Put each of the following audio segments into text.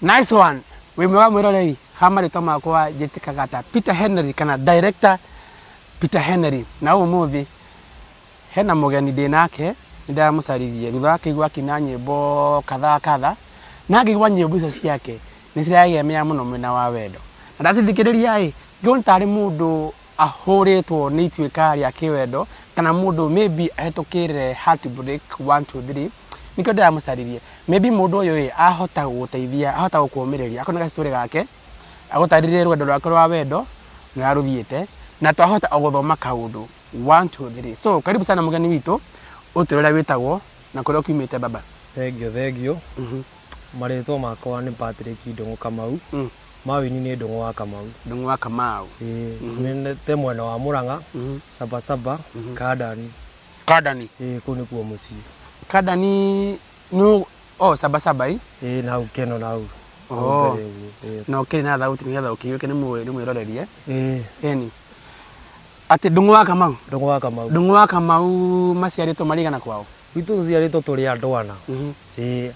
nice one wĩ mwega mwĩroreri ha marĩtwa makwa njĩtĩkaga ta peter henry kana director peter henry na ũmũthĩ hena mũgeni ndĩ nake nĩ ndamũcaririe thutha wa kĩigua akina nyĩmbo kadhaa kadha na ngĩigua nyĩmbo icio ciake nĩ ciragemea mũno mwena wa wendo na ndacithikĩrĩria ĩ ngĩona tarĩ mũndũ ahũrĩtwo nĩ ituĩka rĩa kĩwendo, kana mũndũ maybe ahĩtũkĩire heartbreak one, two, three, nĩkĩo ndĩramũcaririe. Maybe mũndũ ũyũ ĩ, ahota gũgũteithia, ahota gũkũmĩrĩria, akorwo nĩ ga story gake, agũtarĩrie rũgendo rwake rwa wendo, na ũrĩa rũthiĩte, na twahota o gũthoma kaũndũ one, two, three. So karibu sana mũgeni witũ, ũtwĩre ũrĩa wĩtagwo, na kũrĩa ũkiumĩte baba. Thengiũ thengiũ, marĩtwa makwa nĩ Patrick Ndũng'ũ Kamau, Mawini nĩ Ndũng'ũ wa Kamau. Ndũng'ũ wa Kamau. Ĩĩ, nĩnĩte mwena wa Mũrang'a, Saba Saba, Kandani. Kandani. Ĩĩ, kũu nĩkuo mũciĩ. Kandani nĩ o Saba Saba ĩ? Ĩĩ, na hau Keno na hau. Oh. Na ũkĩrĩ na thauti nĩgetha ũkĩiyũke nĩ mwĩrorerie. Ĩĩ. Ĩni. Atĩ Ndũng'ũ wa Kamau? Ndũng'ũ wa Kamau. Ndũng'ũ wa Kamau maciarĩtwo marĩ igana kwao? Gwitũ tũciarĩtwo tũrĩ andũ ana. Ĩĩ,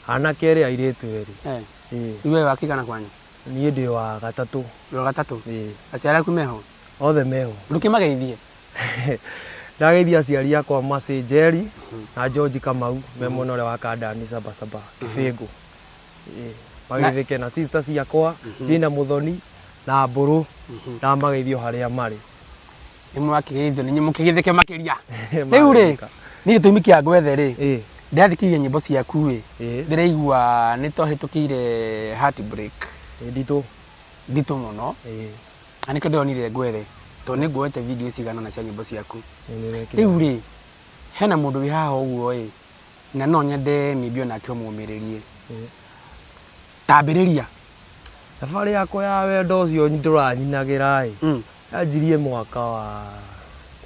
anake erĩ airĩtu erĩ. Ĩĩ. Rĩu we wa kĩgana kwanyu? Niĩ ndĩ wa gatatũ. Wĩ wa gatatũ? Ĩĩ. Aciari aku meho? Othe meho. Ndũkĩmageithie? Ndageithia aciari akwa Mercy Njeri na George Kamau me mwena ũrĩa wa Kandani Sabasaba Kĩbĩngũ. Ĩĩ. Mageithĩke na sister ciakwa Jane Mũthoni na Mbũrũ ndamageithia o harĩa marĩ. nĩ mwakĩgeithio nĩ inyuĩ mũkĩgĩthĩke makĩria rĩu rĩ nĩ gĩtũmi kĩa ngwethe rĩ Ĩ, ndĩrathikĩrĩria nyĩmbo ciaku rĩ Ĩ. ndĩraigua nĩ twahĩtũkĩire heartbreak ĩ, nditũ nditũ mũno Ĩ, na nĩkĩo ndĩronire ngwethe tondũ nĩ nguoete video cigana na cia nyĩmbo ciaku ĩ, nĩrekire. rĩu rĩ hena mũndũ wĩ haha ũguo ĩ na no nyende mĩmbi onake ũmũmĩrĩrie Ĩ. tambĩrĩria thabarĩ yakwa ya wendo ũcio ndũranyinagĩra ĩ Mm. Yanjirie mwaka wa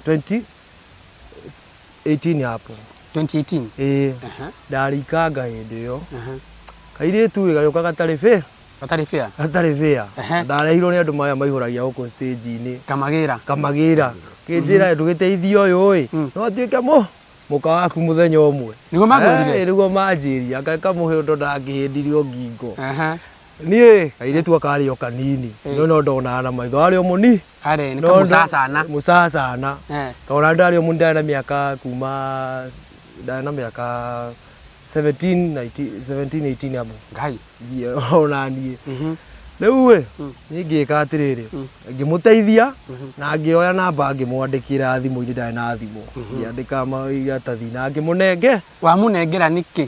2018 hapo 2018 ĩĩ Aha, ndarĩikanga hĩndĩ ĩyo aha. kairĩtu ĩ gagĩũka gatarĩ bĩa gatarĩ bĩa gatarĩ bĩa Ehe. ndarehirwo nĩ andũ maya maihũragia gũkũ stage-inĩ kamagĩra kamagĩra kĩnjĩra ndũgĩteithia ũyũ ĩ Mm. no atuĩke mũ mũka waku mũthenya ũmwe Nĩguo makwĩrire? Eh, nĩguo manjĩria kamũhe ũndũ ndangĩhĩndirio ngingo Aha. niĩ kairĩtu aka arĩ o kanini no no ndonaga na maitho arĩ o mũni Arĩ, nĩ no ndo- kamũcacana. mũcacana Eh. tona ndarĩ o mũni ndarĩ na mĩaka kuma ndarĩ na mĩaka 17 19 17 18 amo Ngai. Ngie- ona niĩ Mhm. rĩu ĩ niĩ ngĩka atĩrĩrĩ ngĩmũteithia na ngĩoya namba ngĩmwandĩkĩra thimũ-inĩ ndarĩ na thimũ ngĩandĩka maratathi na ngĩmũnenge Wamũnengera nĩkĩ?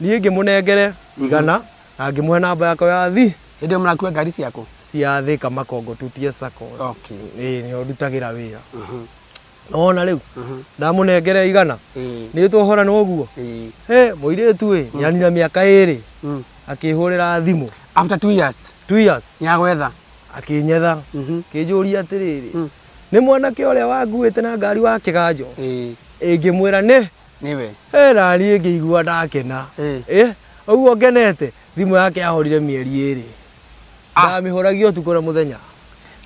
Niĩ ngĩmũnengere igana na ngĩmũhe namba yakwa ya thi. Hĩndĩ ĩyo mũrakua ngari ciakũ? Cia Thĩka Makongo Tutie Sacco. Okay. Ĩĩ nĩho ndutagĩra wĩra. Nĩwona rĩu? Ndamũnengera igana, nĩtwohorana ũguo? Hĩ, mũirĩtu ĩ, nĩanina mĩaka ĩrĩ, akĩhũrĩra thimũ. After two years? Two years. Nĩagwetha? Akĩnyetha. Akĩnjũria atĩrĩrĩ, nĩ mwanake ũrĩa wanguĩte na ngari wa kĩganjo? Ĩĩ. Ĩĩ ngĩmwĩra nĩ. Nĩwe. He na niĩ ngĩigua ndakena. Ĩĩ. Ĩĩ, o ũguo ngenete, thimũ yake yahorire mĩeri ĩĩrĩ. Ah. Ndamĩhũragia ũtukũ na mũthenya.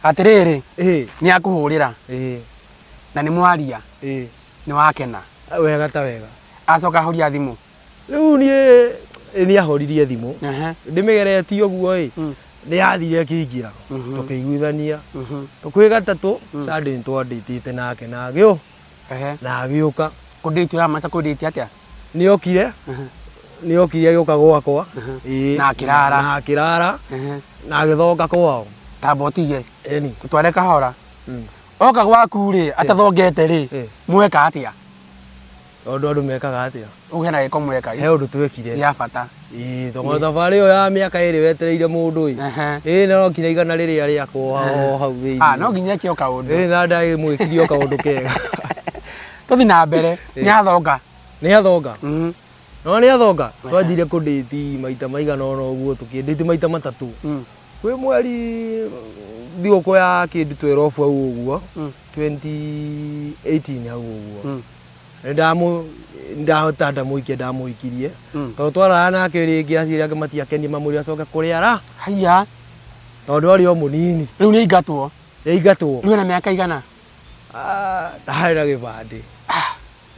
Atĩrĩrĩ, Ĩĩ, nĩakũhũrĩra ĩĩ, na nĩ mwaria, ĩĩ. nĩwakena. Wega ta wega. Acoka ahoria thimũ. Rĩu niĩ ĩ, nĩahoririe thimũ. Ehe. Ndĩmĩgeretie ũguo-ĩ, Mm. nĩyathire ĩkĩingĩra. Mhm. Tũkĩiguithania. Mhm. Kwĩ gatatũ, Sunday nĩtwandĩtĩte nake na agĩũ. Ehe. na agĩũka Kũndĩti ũramaanisha kũndĩti atĩa? nĩ okire Ehe. nĩ okire agĩũka gwakwa Mhm. Ĩĩ. Na akĩrara. na akĩrara Ehe. na agĩthonga kwao Ta mbotige. eni Tũtware kahora. Mm. Oka gwaku-rĩ, atathongete-rĩ, Eh. mweka atĩa? tondũ andũ mekaga atĩa Ũgĩe na gĩko mweka. He ũndũ twekire. Ya bata. Ĩĩ thogora thabarĩ ĩyo ya mĩaka ĩrĩ wetereire mũndũ ĩ. Ĩĩ no nginya igana rĩrĩa rĩakwo o hau thĩinĩ. Ah, no nginya eke o kaũndũ. Ĩĩ na ndagĩmwĩkire o kaũndũ kega. Tũthi na mbere. Nĩ athonga. Nĩ athonga. Mm. No nĩ athonga. Twanjire kũndĩti maita maigana ona ũguo tũkĩndĩti maita matatũ. Mm. Kwĩ mweri thigũkũ ya kĩndũ twerobu hau ũguo. 2018 mm. hau ũguo. Mm. Nĩndamũ- ndahota ndamũikia ndamũikirie Mm. tondũ twaraga nake rĩngĩ aciari ake matiakenie mamwĩre acoke kũrĩa ara haiya tondũ arĩ o mũnini rĩu nĩ aingatwo yaingatwo rĩu ena mĩaka igana Ah, ndaharĩ na gĩbandĩ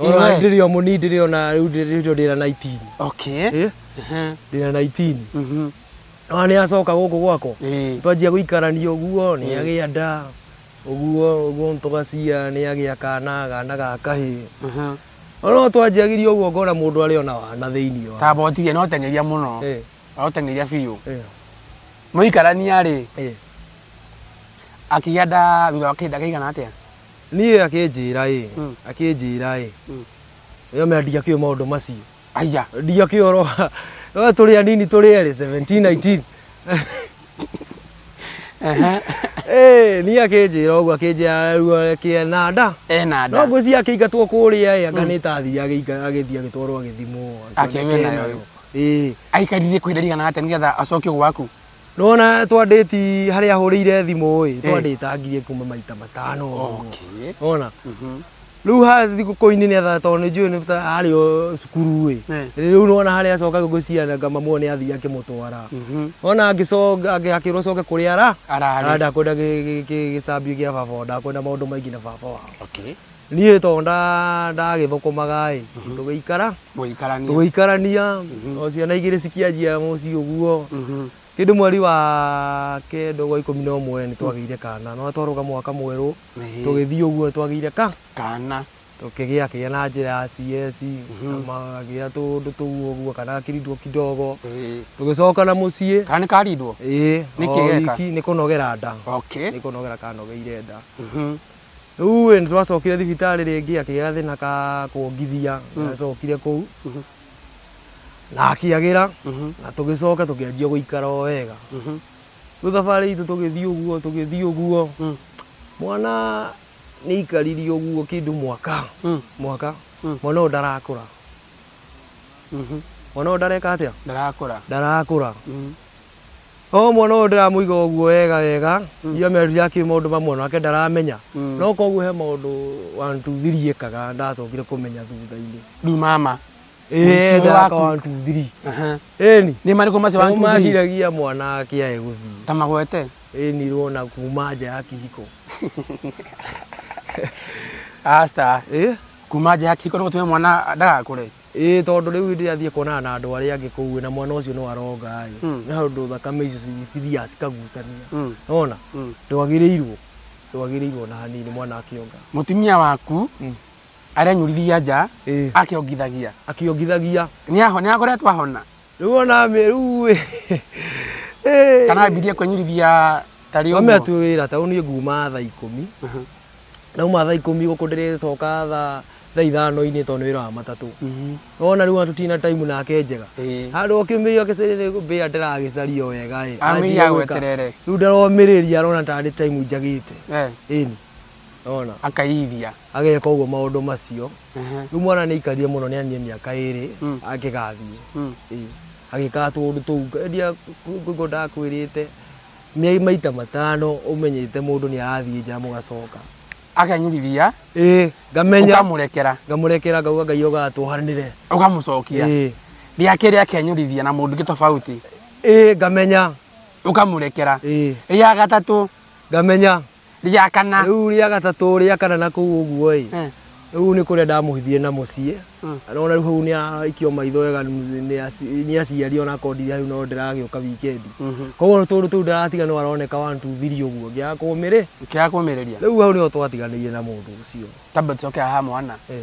Iwe. Ona ndĩrĩ o mũnini ndĩrĩ ona rĩu ndĩrĩ rĩu ndĩna 19 okay Eh, Ehe. ndĩna 19 Mhm. ona nĩ acoka gũkũ gwakwa Eh. twanjia gũikarania ũguo nĩ agĩa nda Ũguo ũguo tũga cia nĩ agĩa kana kana ga kahĩ. No twanjagirie ũguo ngona mũndũ arĩ ona wana thĩinĩ wa. Kaba ũtige no teng'eria mũno. Eh. No teng'eria biũ. Eh. Mũikarania rĩ. Eh. Akĩgĩa nda thutha wa kĩhinda kĩigana atĩa? Niĩ akĩnjĩra ĩ. Hmm. Akĩnjĩra ĩ. Hmm. Nĩyo mendia kĩo maũndũ macio. Aya. Ndio kioro. Wewe tuli ya nini tuli ya 17 19. Eh, ni akinjira uguo akinjira ruo kiena nda. Eh na No nda. ngwĩci akĩingatwo kũrĩa ĩ anga nĩ tathi agĩika- agĩthiĩ agĩtwarwo agĩthimwo Akĩwe nayo. Ĩĩ. Aikarire kwa ihinda rĩigana atĩa nĩgetha acoke gwaku? Nĩwona twandĩti harĩa ahũrĩire thimũ ĩ Eh. twandĩtangirie kuma maita matano ũguo. Okay. Nĩwona Mhm. rĩu ha thigũkũ-inĩ nĩ atha tondũ nĩ njũĩ nĩ ta arĩ o cukuru ĩ Eh. rĩu nĩwona harĩa acoka gũkũ ciana ngamamwo nĩ athiĩ akĩmũtwara Mhm. ona angĩcoka akĩrwo coke kũrĩa ara Ararĩ. ara ndakwenda gĩ- gĩ- gĩ- gĩcambio gĩa baba wao ndakwenda maũndũ maingĩ na baba wao Okay. Niĩ to ndagĩthũkũmaga-ĩ, tũgĩikara, tũgĩikarania, o ciana igĩrĩ cikĩanjia mũciĩ ũguo. Kĩndũ mweri wa kenda ũguo wa ikũmi na ũmwe nĩtwagĩire kana, nĩwona twarũga mwaka mwerũ, tũgĩthiĩ ũguo nĩtwagĩire ka, kana, tũkĩgĩa kĩgĩa na njĩra ya CS, magagĩa tũũndũ tũu ũguo, kana gakirindwo kidogo, tũgĩcoka na mũciĩ. Kana nĩkarindwo? Ĩĩ, o wiki nĩkũnogera nda, nĩkũnogera kanogeire nda. Rĩu-ĩ, nĩtwacokire thibitarĩ rĩngĩ, akĩgĩa gathĩna ka kuongithia, nĩacokire kũu na akĩagĩra na tũgĩcoka tũkĩanjia gũikara o wega. Rĩu thabarĩ itũ tũgĩthiĩ ũguo tũgĩthiĩ ũguo, mwana nĩaikarire ũguo kĩndũ mwaka, mwaka, mwana ũyũ ndarakũra. Mwana ũyũ ndareka atĩa? Ndarakũra. Ndarakũra. O mwana ũyũ ndĩramũiga ũguo wega wega, ndio amerutire akĩ maũndũ mamwe nake ndaramenya. No koguo he maũndũ one two three ekaga ndacokire kũmenya thutha-inĩ. Rĩu mama, Ĩĩ Mũrutĩre ekaga waku. one two three. aha, Ĩni. nĩ marĩkũ macio Nao wantu magiragia mwana akĩae gũthiĩ. ta magwete? Ĩni rwona kuma nja ya kĩhiko. Aca, Ĩ? kuma nja ya kĩhiko nĩ gũtũme mwana ndagakũre? Ĩĩ tondũ rĩu hĩndĩ ĩrĩa athiĩ kuonana na andũ arĩa angĩ kũu na mwana ũcio no aronga rĩ, nĩ handũ thakame icio ci- cithiaga cikagucania. Nona? Ndwagĩrĩirwo. Ndwagĩrĩirwo ona hanini mwana akĩonga. Mũtumia waku Mm. arenyũrithia nja Ĩĩ. akĩongithagia. Akĩongithagia. Nĩaho- nĩakoretwo ahona. Rĩu ona mĩ rĩu ĩ. Ĩ. Kana ambirie kwenyirithia tarĩ Mami ũguo. atuĩ wĩra ta niĩ nguma thaa ikũmi Mhm. ndauma thaa ikũmi gũkũ ndĩrĩcoka thaa thaa ithano-inĩ tondũ nĩ wĩra wa matatũ Mhm. nona rĩu ona tũtina time nake njega Ĩĩ. handũ okĩmĩria mbĩa ndĩragĩcaria o wega ĩ Amĩria agweterere. rĩu ndaromĩrĩria arona tarĩ time njagĩte Eh, ĩni ona akaiyithia. ageka ũguo maũndũ macio Rĩu mwana nĩ aikarire mũno nĩ anie mĩaka ĩrĩ akĩgathiĩ. Ĩĩ. Agĩkaga tũũndũ tũu. Endia kũigua ndakwĩrĩte mĩai maita matano ũmenyete mũndũ nĩ arathiĩ nja mũgacoka. Akenyũrithia. Ĩĩ. Ngamenya. Ũkamũrekera. Ngamũrekera ngauga Ngai oga tuohanĩre. Ũkamũcokia. Ĩĩ. Rĩa kerĩ akenyũrithia na mũndũ ũngĩ tofauti. Ĩĩ ngamenya. Ũkamũrekera. Ĩĩ. Rĩa gatatũ. Ngamenya. Rĩa kana. Rĩu rĩa gatatũ rĩa kana na kũu ũguo-ĩ, Eh. rĩu nĩ kũrĩa ndamũhithirie na mũciĩ, Mm. na ona rĩu hau nĩ aikio maitho wega nĩ aci- nĩ aciari ona akorwo ndirĩ hau no ndĩragĩũka wikendi. Mhm. Koguo tũndũ tũu ndaratiga no aroneka one two three ũguo ngĩaga kũmĩrĩ. Kĩaga kũmĩrĩria. Rĩu hau nĩho twatiganĩire na mũndũ ũcio. Tamba tũcoke haha mwana. Eh.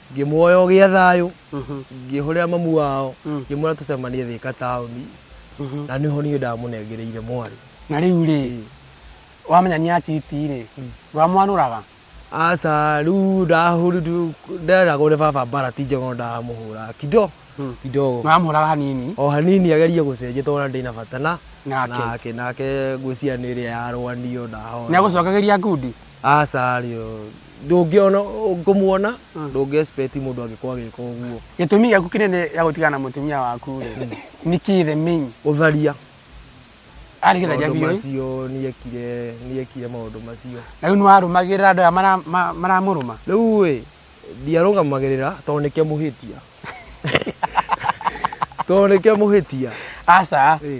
Ngĩmuoya ũgĩa thayũ, ngĩhũrĩra mamu wao, ngĩmwĩra tũcemanie Thĩka taũni, na nĩho niĩ ndamũnengereire mwarĩ. Na rĩu rĩ, wamenya nĩ aciti rĩ, ndwamwanũraga? Aca, rĩu ndahũrirwo, nderagwo nĩ baba mbara ti njega no ndamũhũraga kido, kidogo. Nĩwamũhũraga hanini? O hanini agerie gũcenjia tondũ ona ndirĩ na bata na, nake, nake ngwĩciria nĩ ĩrĩa yarũanio ndahorera. Nĩagũcokagĩria ngundi? Aca rĩo. ndũngĩona ngũmuona ndũngĩespeti mũndũ angĩkorwo agĩka ũguo gĩtũmi gĩaku kĩnene gĩa gũtigana na mũtumia waku rĩ nĩ kĩ the main ũtharia arĩ gĩtharia maũndũ biũ macio nĩekire nĩekire maũndũ macio na rĩu nĩwarũmagĩrĩra andũ aya mara- ma- maramũrũma rĩu ĩ ndiarũgamagĩrĩra tondũ nĩkĩo mũhĩtia tondũ nĩkĩo mũhĩtia aca ĩ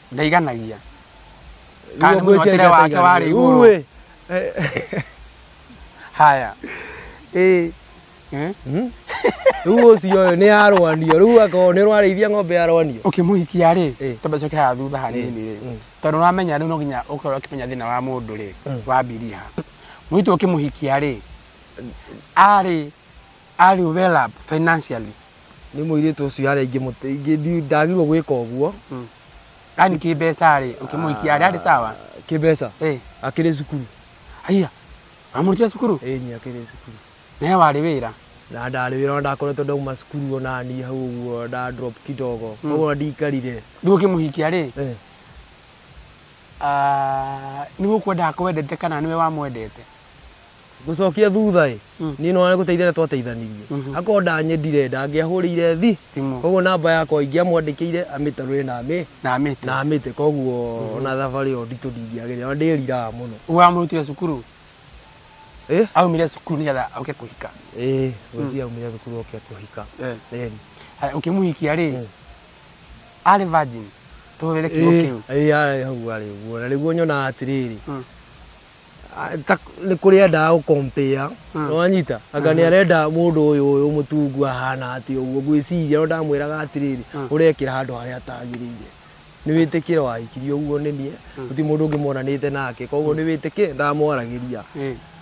ndaiganagia Kana nĩ mũnyotire wake warĩ igũrũ. Uĩ. haya Ĩ. eh? Rĩu ũcio ũyũ nĩ arwanio. Rĩu akorwo nĩ ũrarĩithia ng'ombe ya rwanio. ũkĩmũhikia rĩ Eh. tondũ coke haha thutha hanini rĩ Mm. tondũ nĩwamenya rĩu no nginya ũkorwo ũkĩmenya thĩna wa mũndũ rĩ Mm. wa mbiriha mũitũ ũkĩmũhikia rĩ arĩ Are you well up financially? Nĩ mũirĩtu ũcio harĩa ingĩmũte- ingĩ- ndi- ndagĩrĩirwo gwĩka ũguo Yaani kĩmbeca rĩ, ũkĩmũikia arĩ arĩ sawa? kĩmbeca Eh, akĩrĩ cukuru haiya, wamũrutire cukuru? ĩni akĩrĩ cukuru Nawe warĩ wĩra? na ndarĩ wĩra ona ndakoretwo ndauma cukuru ona niĩ hau ũguo nda drop kidogo koguo ndikarire Rĩu ũkĩmũhikia rĩ, Eh, ah, nĩ gũkwendaga kwendete kana nĩwe wamwendete? Gũcokia thutha-ĩ, niĩ nĩwona nĩgũteithia arĩa twateithanirie. Akorwo ndanyendire ndangĩahũrĩire thi, Thimũ. kuoguo namba yakwa ingĩamwandĩkĩire amĩtarũre na amĩ- Na amĩte. na amĩte. Kuoguo ona thabarĩ ĩyo nditũ ndingĩagerire, ona ndĩriraga mũno. Ũguo wamũrutire cukuru, Ĩ? aumire cukuru nĩgetha oke kũhika. Ĩĩ, ngwĩciria aumire thukuru oke kũhika. Eh. Ĩni. Haya, Ũkĩmũhikia-rĩ, arĩ virgin? Tũhũthĩre kiugo kĩu. Ĩĩ, arĩ hau arĩ ũguo. Na nĩguo nyonaga atĩrĩrĩ, Mm. nĩ kũrĩ endaga gũ compare hmm. wanyita anga hmm. nĩ arenda mũndũ ũyũ ũyũ mũtungu ahana atĩ ũguo ngwĩciria no ndamwĩraga atĩrĩrĩ hmm. ũrekĩra handũ harĩa atagĩrĩire nĩ wĩtĩkĩre wahikirie ũguo nĩ niĩ gũtirĩ mũndũ ũngĩ monanĩte nake koguo nĩ wĩtĩkĩre ndamwaragĩria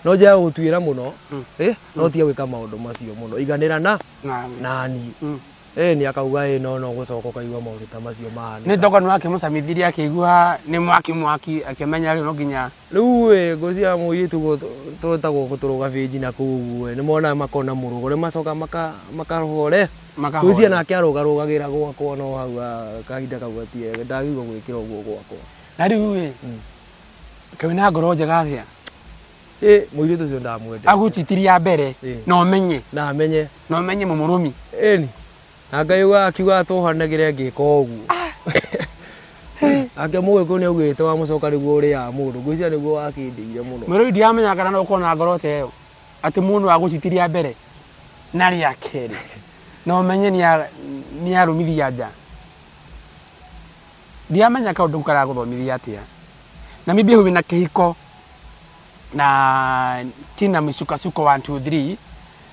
no njĩra gũtuĩra mũno no tige gwĩka maũndũ macio mũno iganĩra na nani Ĩĩni, akauga, ĩĩ no, no gũcoka ũkaigua maũndũ ta macio mahanĩka. Nĩ toko nĩwakĩmũcamithirie akĩigua nĩ mwaki mwaki akĩmenya rĩu no nginya. Rĩu ĩ, ngũ cia mũirĩtu ũguo twĩtagwo gũtũrwo gabĩnji na kũu ũguo-ĩ, nĩmonaga makona mũrũgo, nĩmacokaga maka, makarũgore. Makahorera. Ngũcia nake arũgarũgagĩra gwakwa no hau a, kahinda kau gatiagĩ, ndagĩrĩirwo gwĩkĩra ũguo gwakwa. Na rĩu-ĩ, kaĩ wĩna ngoro njega atĩa? Ĩ, mũirĩtu ũcio ndamwendete. Agũnjitiria mbere Ĩ. na ũmenye. Na menye. No menye mũmũrũmi. Ĩni. Na Ngai ũguo akiuga atũhanagĩre ngĩka ũguo. Nake mũgĩkũyũ nĩ augĩte wa mũcoka nĩguo ũrĩaga mũndũ. Ngwĩciria nĩguo wakĩndĩire mũno. Mũrũi ndiramenya kana no ũkorwo na ngoro ta ĩyo. Atĩ mũndũ wa gũciti rĩa mbere na rĩa kerĩ. Na ũmenye nĩ arũmithia nja. Ndiramenya kaũndũ kau karagũthomithia atĩa. Na maybe hau wĩna kĩhiko na kĩna mĩcukacuko one two three.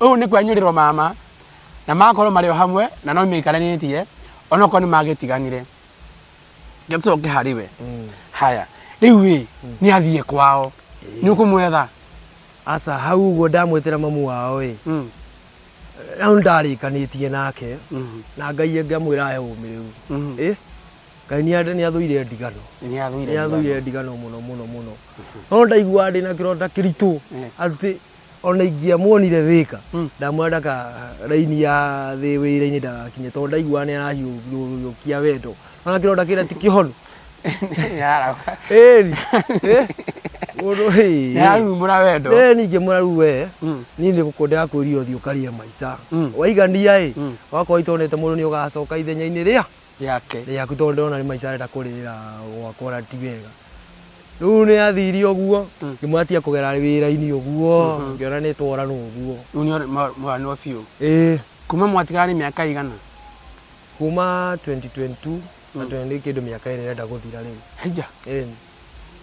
Ũũ nĩ kwenyũrĩrwo ma ma, na magakorwo marĩ o hamwe, na no maikaranitie, onokorwo nĩ magĩtiganire. Reke tũcoke harĩ we. Mm. Haya, rĩu rĩ, mm. nĩ athiĩ kwao. Nĩ ũkũmwetha? Aca, hau ũguo ndamwetera mamu wao ĩ. Mm. Rĩu ndarĩkanĩtie nake, mm-hmm. na Ngai ngamwĩra he ũmĩrĩu. Mm-hmm. Ĩ? Ngai nĩ athũire ndigano. Nĩ athũire ndigano mũno mũno mũno. Mm-hmm. No ndaigua ndĩ na kĩronda kĩritũ atĩ ona ingĩamuonire wika Mm. ndamwona ndaka raini ya thĩ wĩra-inĩ ndagakinye tondũ ndaiguaga nĩ arahiũkia wendo ona kĩronda kĩrĩa ti kĩhonu Yara. ĩni mũndũ hĩ Yarumura wendo. ĩ ningĩ mũraru we Mm. niĩ nĩ gũkwendaga kwĩria ũthiĩ ũkarĩe maica Mm. waigania ĩ Mm. wakorwo itonete mũndũ nĩ ũgacoka ithenya-inĩ rĩa yake. Rĩaku tondũ ndĩrona nĩ maica arenda kũrĩra gwakwa na ti wega. Rĩu nĩ athire ũguo, mm. ngĩmwona tiga kũgera wĩra-inĩ ũguo, mm-hmm. ngĩona nĩ twarana ũguo. Rĩu mwaranirwo biũ? Ĩĩ. Kuma mwatigana nĩ mĩaka igana? Kuma 2022 na mm. nĩ kĩndũ mĩaka ĩrĩa ĩrenda gũthira rĩu. Haija? Ĩĩ.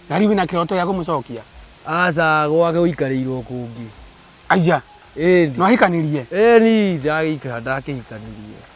Na rĩu wĩna kĩroto gĩa kũmũcokia? Aca gwake gũikarĩirwo kũngĩ. Aija? Ĩĩ. Nwahikanĩrie? Ĩĩ ni ndagĩikara ndakĩhikanĩrie.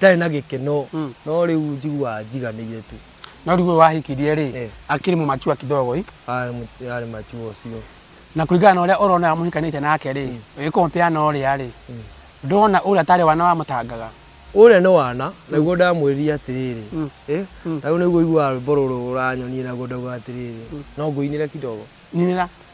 Ndarĩ na gĩkeno Mm. no rĩu njiguaga njiganĩire tu. No rĩu ũyũ wahikirie rĩ, Eh. akĩrĩ mũmachua kidogo ĩ. Arĩ mũ- Arĩ machuo ũcio. Na kũringana na ũrĩa ũrona ũrĩa mũhikanĩte nake rĩ, ũgĩkompea na ũrĩa rĩ, Mm. ndona ũrĩa tarĩ wana wamũtangaga. Ũrĩa nĩ wana, naguo ndamwĩrire atĩrĩrĩ, Mm. ĩ, Mm. na rĩu nĩguo ũiguaga rwĩmbo rũrũ ũranyonie naguo ndauga atĩrĩrĩ, no ngũinĩre kidogo. Ninĩra.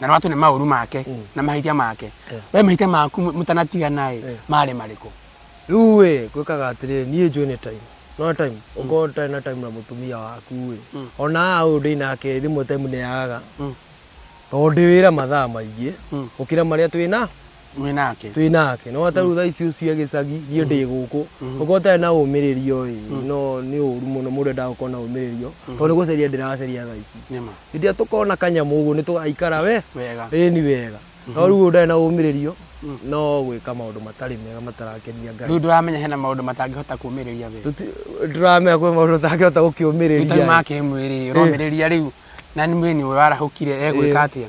na nĩ watũne maũru make mm. na mahĩtia make yeah. we mahĩtia maku mũtanatigana-ĩ yeah. marĩ marĩkũ rĩu-ĩ gwĩkaga atĩrĩrĩ niĩ njũĩ nĩ time no time mm. ũkorwo ũtarĩ na time na mũtumia waku-ĩ mm. ona ũyũ ndĩ nake rĩmwe time nĩ yagaga mm. tondũ ndĩ wĩra mathaa maingĩ gũkĩra marĩa twĩ na wĩ nake twĩ nake no atarĩu thaa ici ũcio gĩcagi niĩ ndĩ gũkũ ũkorwo ũtarĩ na ũmĩrĩrio ĩ no nĩ ũru mũno mũndũ endaga gũkorwo na ũmĩrĩrio tondũ nĩ gũcaria ndĩracaria thaa ici nĩma hĩndĩ ĩrĩa tũkona kanyamũ ũguo nĩ tũgaikara we wega ĩ ni wega no rĩu ũyũ ndarĩ na ũmĩrĩrio no gwĩka maũndũ matarĩ mega matarakenia ngai rĩu ndũramenya hena maũndũ matangĩhota kũmĩrĩria we Tũti- ndũramenya kwĩ maũndũ ũtangĩhota rĩu tondũ gũkĩũmĩrĩria ma kĩmwĩrĩ ũromĩrĩria rĩu na nĩ mwĩni ũyũ arahũkire egwĩka atĩa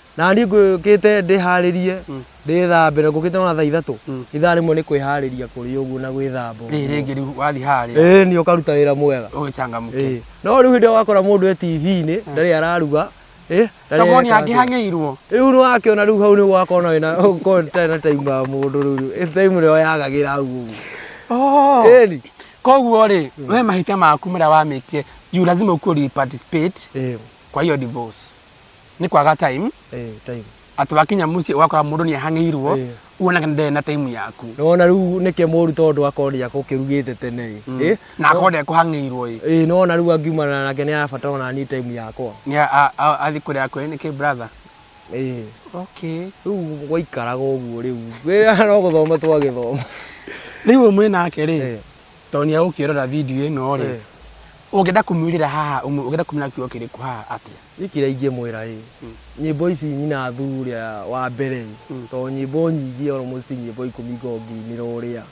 Na niĩ ngũkĩte ndĩharĩrie, ndĩthambĩre, ngũkĩte ona thaa ithatũ, ithaa rĩmwe nĩ kwĩharĩria kũrĩ ũguo na gwĩthamba ũguo. Rĩrĩ rĩngĩ rĩu wathiĩ harĩa. Ĩĩ nĩ ũkaruta wĩra mwega. Ũgĩcangamũke. Ĩĩ. No rĩu hĩndĩ ĩyo wakora mũndũ e TV-inĩ, ndarĩ araruga, ĩ, ndarĩ Kamoni areka atĩa. angĩhang'ĩirwo. Rĩu nĩwakĩona rĩu hau nĩguo ũgakorwo nawe na ũkorwo ũtarĩ na time ya mũndũ rĩu. Time nĩyo yagagĩra hau ũguo. Oh. Ĩni. Koguo rĩ, we mahĩtia maku marĩa wamĩkire, juu lazima ukuwe uli participate Ĩĩ. kwa hiyo divorce. nĩ kwaga time Eh, time. atĩ wakinya mũciĩ ũgakora mũndũ nĩ ahang'ĩirwo Ĩĩ. uona kana ndarĩ na time yaku Nĩwona rĩu nĩke mũru tondũ akoria kũkĩrugĩte tene ĩ. Ĩ? na akorwo ndekũhang'ĩirwo ĩ Ĩ, nĩwona rĩu angiumana nake nĩ arabatara ona niĩ time yakwa. nĩ a- a- a- athiĩ kũrĩa akwĩra nĩkĩ brother Ĩ. okay Rĩu gwaikaraga ũguo rĩu. Wĩra no gũthoma twagĩthoma. rĩu ũyũ mwĩ nake rĩ Ĩ. tondũ nĩ egũkĩrora video ĩno rĩ Ĩ. ũngĩenda kũmwĩrĩra haha ũmwe- ũngĩenda kũmwĩra kiugo kĩrĩkũ haha atĩa Nĩ kĩrĩa ingĩmwĩra-ĩ, nyĩmbo ici nyina Thu ũrĩa wa mbere-ĩ, tondũ nyĩmbo nyingĩ almost ti nyĩmbo ikũmi ngoragwo ngĩinĩra ũrĩa,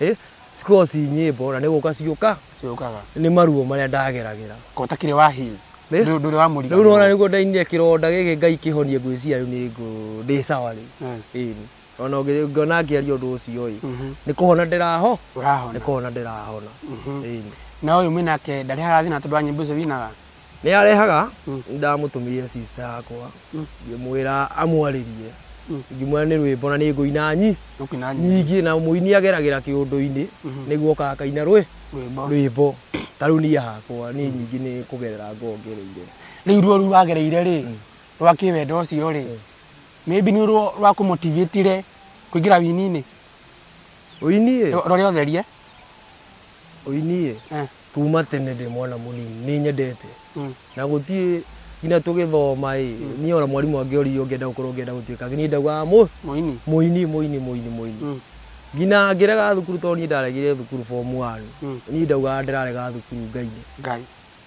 ĩ, cikoragwo ci nyĩmbo na nĩ gũka ciũka, Ciũkaga. nĩ maruo marĩa ndageragĩra. Ko ũtakĩrĩ wa heal. Nĩ? Ndũ- Ndũrĩ wa Rĩu nĩwona mũriganĩrwo. nĩguo ndainire kĩronda gĩkĩ Ngai kĩhonie ngwĩciria rĩu nĩ ngũ, ndĩ sawa rĩu. Mm. Ĩni. Ona ũngĩ- ũngĩona ngĩaria ũndũ ũcio-ĩ, nĩ kũhona ndĩraho, nĩ Ũrahona. kũhona ndĩrahona. Ĩni. Na ũyũ mwĩ nake ndarĩ harathina tondũ wa nyĩmbo icio winaga? nĩ arehaga ndamũtũmĩire sister yakwa ngĩmwĩra amwarĩrie ngĩmwĩra nĩ rwĩmbo na nĩ ngũina nyi Ndũkina nyinyi. nyingĩ na mũini ageragĩra kĩũndũ-inĩ nĩguo oka akaina rwĩ Rwĩmbo. rwĩmbo ta rĩu niĩ hakwa niĩ nyingĩ nĩ kũgerera ngongereire Rĩu ruo rũu wagereire rĩ, rwa kĩwendo ũcio rĩ, maybe nĩ ruo rwa kũmotivate-re kũingĩra wini-inĩ. ũini ĩ Ro- Rore ũtherie. ũini ĩ Eh. Kuma tene ndĩ mwana mũnini nĩ nyendete Mm. na gũtiĩ nginya tũgĩthoma ĩ niĩ ona mwarimũ angĩoria ũngĩenda gũkorwo ũngĩenda gũtuĩka niĩ ndaugaga mũ Mũini. mũini mũini mũini mũini Mm. nginya ngĩrega thukuru tondũ niĩ ndaregire thukuru form one Mm. niĩ ndaugaga ndĩrarega thukuru ngainĩ Ngai.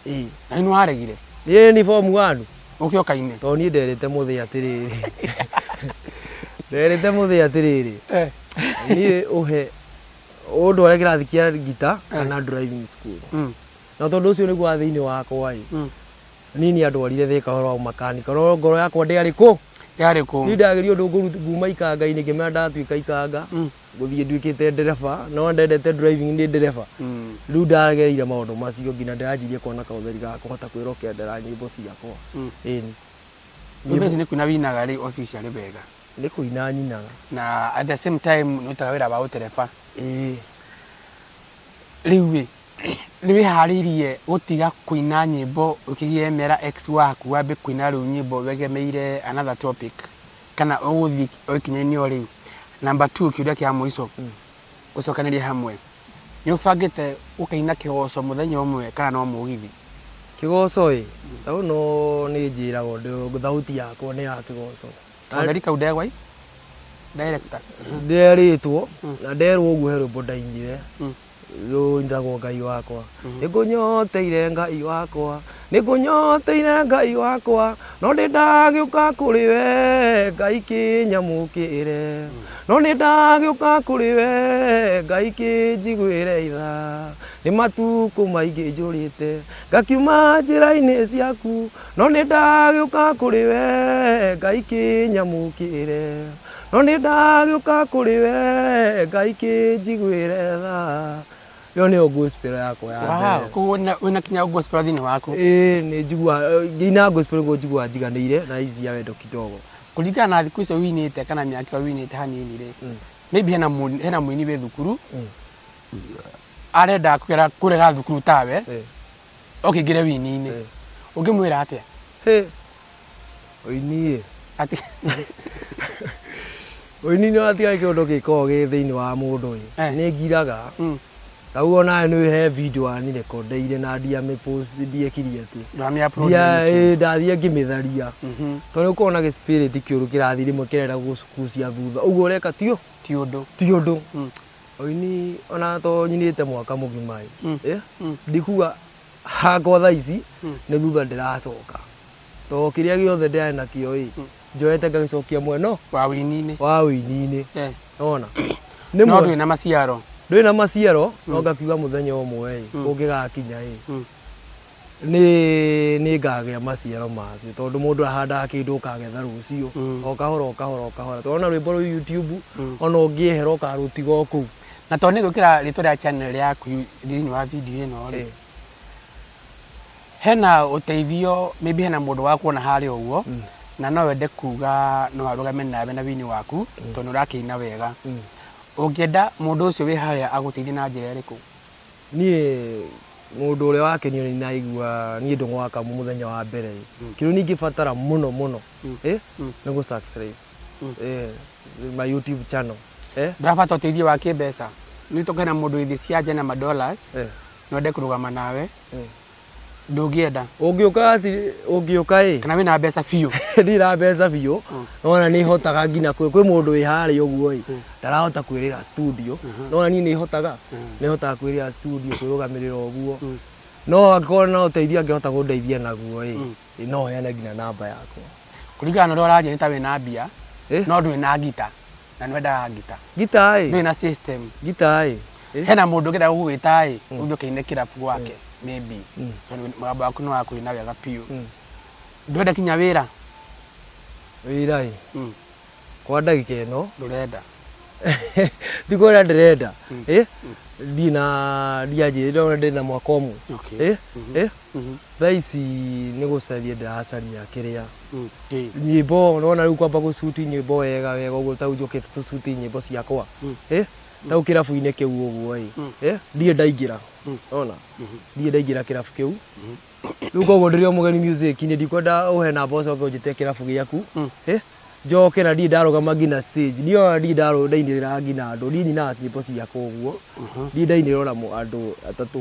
ĩ Na nĩ waregire. ĩ ni form one Ũkĩo kaine. tondũ niĩ nderĩte mũthĩ atĩrĩrĩ nderĩte mũthĩ atĩrĩrĩ Eh. niĩ ũhe ũndũ ũrĩa kĩrathi kĩa ngita kana driving school Mm. na tondũ ũcio nĩguo wa thĩinĩ wakwa ĩ Mm. nini andwarire thĩka ũhoro wa ũmakanika no ngoro yakwa ndĩarĩ kũ yarĩ niĩ kũ ndageria ũndũ ngũru nguma ikanga-inĩ ngĩmera ndatuĩka ikanga Mm. ngũthiĩ nduĩkĩte ndereba no ndendete driving ndĩ ndereba Mm. rĩu ndagereire maũndũ macio nginya ndĩranjirie kuona kaũtheri ga kũhota kwĩrokendera nyĩmbo ciakwa Mm. ĩni nyũmba ici nĩ kuina winaga rĩ officially wega Nĩ kũina nyinaga. Na at the same time nĩ ũtaga wĩra wa ũtereba. Ĩĩ. Rĩu-ĩ, nĩ wĩharĩirie gũtiga kũina nyĩmbo ũkĩgĩe mera ex waku wambe kũina rĩu nyĩmbo wegemeire another topic, kana ũgũthiĩ o ikinya-inĩ o rĩu? Number two, kĩũria kĩa mũico, gũcokanĩrĩria hamwe, nĩ ũbangĩte gũkaina kĩgoco mũthenya ũmwe kana no mũgithi? Kĩgoco-ĩ, ta rĩu no nĩnjĩraga ũndũ thauti yakwa nĩ ya kĩgoco. Katheri kau ndegwa i director. Nderĩtwo Mm. na nderwo ũguo he rwĩmbo ndainire Mm. rũu njagwo ngai wakwa nĩ ngũnyoteire ngai wakwa nĩ ngũnyoteire ngai wakwa no nĩ ndagĩũka kũrĩ we ngai kĩnyamũkĩre no nĩ ndagĩũka kũrĩ we ngai kĩnjiguĩre itha nĩ matukũ maingĩ njũrĩte ngakiuma njĩra-inĩ ciaku No nĩ ndagĩũka kũrĩ we ngai kĩnyamũkĩre no nĩ ndagĩũka kũrĩ we ngai kĩnjiguĩre tha ĩyo nĩyo gospel yakwa ya mbere Wow, koguo wĩna- wĩna kinya gospel thĩinĩ waku ĩĩ nĩ njiguaga ngĩina gospel nĩguo njiguaga njiganĩire na ici cia wendo kidogo kũringana na thikũ icio winĩte kana mĩaka ĩyo winĩte hanini rĩ Mm. maybe hena mũini- hena mũini wĩ thukuru Mm. arenda kũgera kũrega thukuru tawe Eh, oke ingire wini-inĩ Eh. ũngĩmwĩra atĩa Hĩ. Ũini-ĩ. Ati- Ũini nĩ watiga nĩ kĩũndũ gĩkoragwo gĩ thĩinĩ wa mũndũ ĩ. Eh. Nĩ ngiraga. Mm. Ta ũguo nawe nĩ he video wanirĩkondeire na ndiamĩpost ndiekiri atĩ. ndwamĩa upload Ndia na YouTube. ĩ ndathiĩ ngĩmĩtharia. Mhm. Tondũ ũkoragwo na gĩspirit kĩũru kĩrathiĩ rĩmwe kĩrenda gũkucia thutha. Ũguo ũreka ti ũ- ti ũndũ ti ũndũ. Mm. Oini ona to nyinite mwaka mugima ĩ mm. eh? mm. ndikuga hakwa tha ici mm. nĩ thutha ndĩracoka to kĩrĩa gĩothe ndĩarĩ nakĩo ĩ mm. njoete ngagĩcokia mweno wa wĩininĩ wa wĩininĩ eh. ona no ndwĩ na maciaro ndwĩ na maciaro no ngakiuga mũthenya ũmwe ĩ ũngĩgakinya ĩ nĩ nĩ ngagĩa maciaro macio tondũ mũndũ ahandaga kĩndũ ũkagetha rũciũ Mm. o kahora o kahora o kahora tondũ ona rwĩmbo rũu YouTube Mm. ona ũngĩehera ũkarũtiga o kũu na tondũ nĩ gwĩkĩra rĩtwa rĩa channel yaku thĩinĩ wa video ĩno rĩ Eh, hena ũteithio maybe hena mũndũ wakuona harĩa ũguo Mm. na no wende kuga no arũgame nawe na wini waku tondũ ũrakĩina wega mm. ũngĩenda mũndũ ũcio wĩ harĩa agũteithie na njĩra ĩrĩkũ Niĩ mũndũ ũrĩa wakenio nĩ naigua niĩ ndĩ gwaka mũthenya wa mbere ĩ, kĩndũ niĩ ingĩbatara mũno mũno ĩ, nĩ gũ subscribe ĩ, my YouTube channel ĩ. Ndĩrabatara ũteithio wa kĩmbeca. Nĩ tũkoragwo na mũndũ wĩ thĩ cia nja na ma dollars, Eh. no ende kũrũgama nawe. ndũngĩenda ũngĩũka ati ũngĩũka ĩ kana wĩna mbeca biũ ndirĩ na mbeca biũ Mm. nona nĩ hotaga nginya kwĩ kwĩ mũndũ wĩ harĩa ũguo ĩ Mm. ndarahota kwĩrĩra studio Mhm. nona niĩ nĩ hotaga Mm. nĩ hotaga kwĩrĩra studio kwĩrũgamĩrĩra ũguo Mm. no angĩkorwo na ũteithio angĩhota kũndeithia naguo ĩ Mm. ĩ, no heane nginya namba yakwa kũringana na ũrĩa ũraria nĩ ta wĩna mbia Eh? no ndwĩna ngita na nĩ wendaga ngita ngita ĩ ndũrĩ na system ngita ĩ Eh? hena må ndå ngä enda gå gwä ta ä å thiä å käine kä rabu gwake maybe Mm. tondũ mũgambo waku nä wakå ina wega biå Mm. ndwenda kinya wä ra wĩra ĩ kwa ndagika ĩno ndå renda ndikwona ndĩrenda Mm. ĩ ndirĩ na ndianjĩrĩire ona ndĩ na mwaka ũmwe Okay. ĩ ĩ Mhm. thaa ici nĩ gũcaria ndĩracaria kĩrĩa Mm. Kĩ. nyimbo nona rĩu kwamba gũcuti nyimbo wega wega ũguo tau njũkĩte tũcuti nyimbo ciakwa Mm. Eh, tau kĩrabu-inĩ kĩu ũguo ĩ Mm. Eh, ndirĩ ndaingĩra Mm. ona Mhm. ndirĩ ndaingĩra kĩrabu kĩu rĩu koguo ndĩrĩ o mũgeni music nĩ ndikwenda ũhe namba ũcoke ũnjĩte kĩrabu gĩaku Mm. Eh, njoke na ndirĩ ndarũgama nginya stage ndirĩ ona ndirĩ ndarũ- ndainĩrĩra nginya andũ ndirĩ nyinaga nyimbo ciakwa ũguo Mhm. ndirĩ ndainĩrĩra ona mũ- andũ atatũ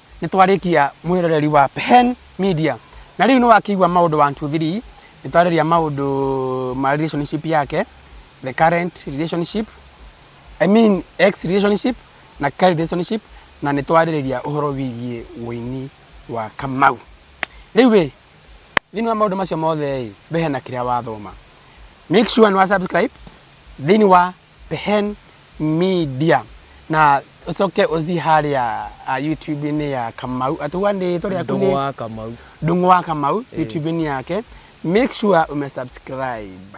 Nĩ twarĩkia mwĩroreri wa Pen Media. Na rĩu nĩ wakĩigua maũndũ one two three. Nĩ twarĩria maũndũ ma relationship yake, the current relationship, I mean ex relationship na current relationship na nĩ twarĩrĩria ũhoro wĩgiĩ ũini wa Kamau. Rĩu ĩ, thĩinĩ wa maũndũ macio mothe ĩ, we hena kĩrĩa wathoma. Make sure nĩ wa subscribe thĩinĩ wa Pehen Media na ucoke uthi haria ah, YouTube-inĩ ya Kamau atuga nĩ rĩtwa rĩaku Ndũgũ nĩ wa Kamau. Ndung'u wa Kamau YouTube-inĩ yake make sure ume subscribe